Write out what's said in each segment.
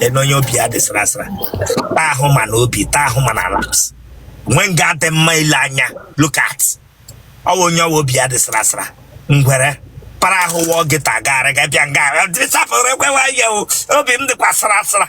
ene onye obi ya dị sara sara taa ahụ ma na obi taa ahụ ma na laps nwe nga adị mma ile anya look at ọwa onye ọwa obi ya dị sara sara ngwere para ahụ wụọ gị tagara ga bịa nga sapụrụ ekwewa ya o obi m dịkwa sara sara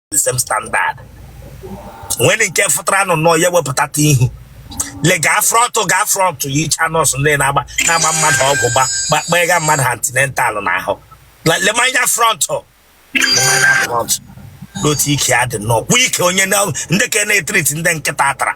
the same standard nwere nke fụtara nụ nọ ya wepụtata ihu le gaa front gaa front yicha nurse ndị na-agba na-agba mmadụ ọgwụ gba gba- gbega mmadụ antenatal n'ahụ Le- lema anya front lema anya front n'otu ike ya dị nnọọ kwa ike onye na- ndị ka na-etreat ndị nkịta tara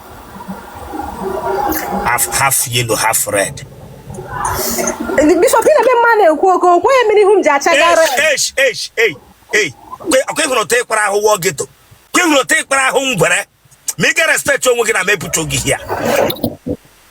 half half yellow half red bishop ị na-ebe mma na-ekwu oke okwu onye mere ihu m ji acha gara akwa ị hụrụ otu ị kpara ahụ wụọ geto kwa ị hụrụ otu ị kpara ahụ ngwere ma ị ga-respect onwe gị na mepụta oge ya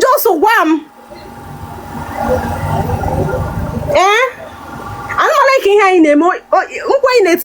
just gwa m ee ana m alike ihe anyị na-eme nkwa anyị na-eti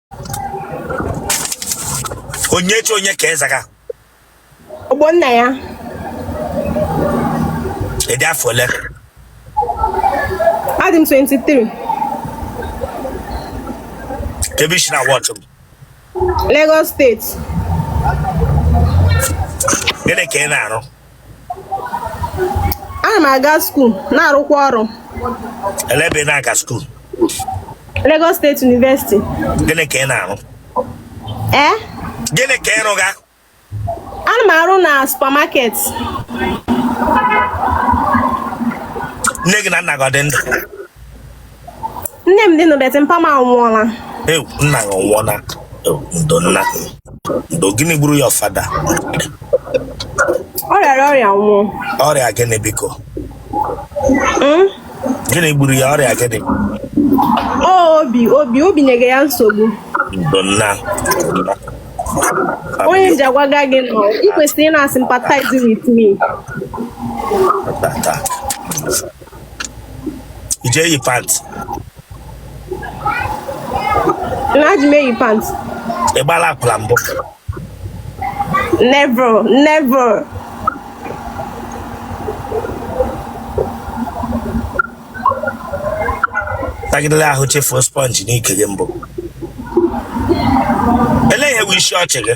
Onyechi onye ka ị zaga Ọgbọnnaya ị dị afọ ole adị m 23 kee ebe i si na-awatch Lagos State gịnị ka ị na-arụ ana m aga school na-arụkwa ọrụ Elee ebe ị na-aga skuul? Lagos State University Gịnị ka ị na-arụ? ee Gịnị ka ị rụga? ana m arụ na supermarket Nne gị na nna gị ọ dị ndụ? nne m dị ndụ but mpa m anwụọla Ewu, nna gị ọ nwụọna ewu, ndo nna ndo gịnị gburu your father ọ rịara ọrịa nwụọ ọrịa gịnị biko Mm? gịnị gburu ya ọrịa gịnị Ọ obi obi obi nyere ya nsogbu ndo nna onye m ji agwaga gị nọ ị kwesịrị ịna-asympathize with me tata ị je eyi pant na ji m eyi pant ị gbala akwụla mbụ never never sagidere ahụ chefuo sponge n'ike gị mbụ elee ihe bụ isi ọchị gị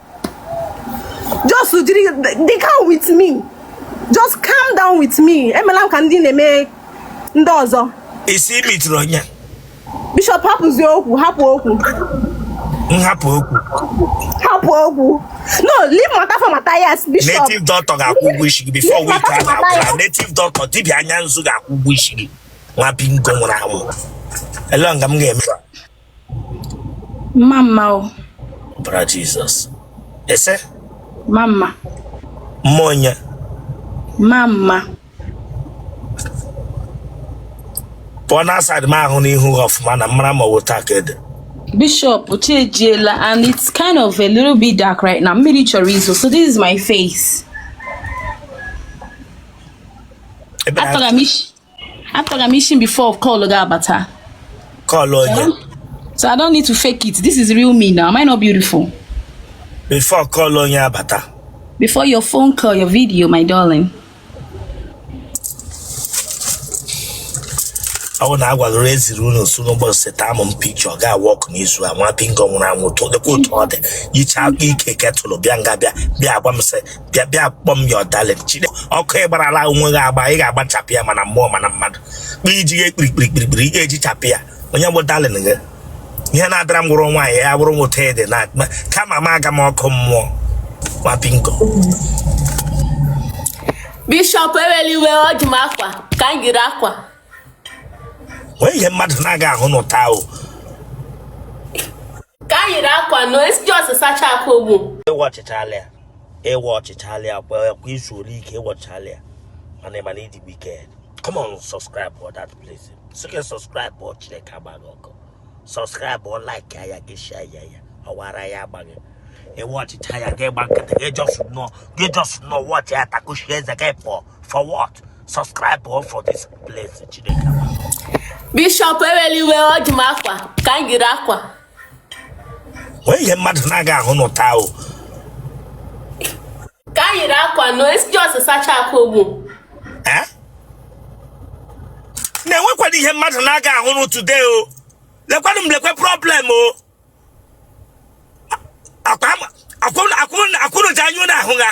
just jiri dey calm with me just calm down with me emela m ka ndị na-eme ndị ọzọ ị sị i mitiri onye bishọp hapụzie okwu hapụ okwu nhapụ okwu hapụ okwu no leave matter for Matthias bishọp native doctor ga-akwụ ụgwọ isi gị before week a na-agwụla native doctor dibịa anya nzu ga-akwụ ụgwọ isi gị nwa bingo nwụrụ anwụ ele nga m ga-eme mama ọbara jizọs ese mma mma mma onye mma mma pụọ na aside m ahụ n'ihu gị ọfụma na m mara mma ọ wụ taa ka ede bishop chi ejiela and it's kind of a little bit dark right now mmiri chọrọ izo so this is my face Ebe na-atọgha m isi Atọgha m isi before call ga-abata. Call onye? So I don't need to fake it. This is real me now. Am I not beautiful? Before call onye abata. Before your phone call, your video, my darling. ọ bụ na a gwagoro eziri unu nso n'ụbọchị taa m picture ga-agba ọkụ n'izu a nwa bingo nwụrụ anwụ tụọ dịkwa otu ọ dị yicha ike ketụlụ bịa nga bịa bịa agwa m sị bịa bịa kpọ m your darling chide ọkụ ị gbara ala onwe gị agba ị ga-agbachapụ ya ma na mmụọ ma na mmadụ kpa iji ya ekpirikpirikpirikpiri ị ga-ejichapụ ya onye bụ darling gị ihe na-adara m wụrụ nwaanyị ya bụrụ nwoke ede na kama m aga m ọkụ mmụọ nwa bingo bishọp ewela iwe ọ dị m akwa ka m yiri akwa nwee ihe mmadụ na-aga ahụ n'ụta ahụ ka m yiri akwa nọ esi just sacha akwa ogbu ị watchịchaala ya ị watchịchaala ya kwa kwa i zuole ike ị watchịchaala ya mana ị ma na ị dị wicked come on subscribe for that place sị gị subscribe before chineke agba gị ọkụ subscribe like ya gị share ya ya ọ wụ ara ya agba gị ị watchịcha ya gị gba nkịtị gị just nọ gị just nọ watch ya takushi eze gị pụọ for what subscribe o for this place chineke bishọp ewela iwe ọ dị m akwa ka m yiri akwa nwee ihe mmadụ na-aga ahụ n'ụta o ka m yiri akwa nọ esi just sacha akwa ogbu na-enwekwara ihe mmadụ na-aga ahụrụ today o lekwanụ m lekwe problem o a kwụrụ ji anya na-ahụ ha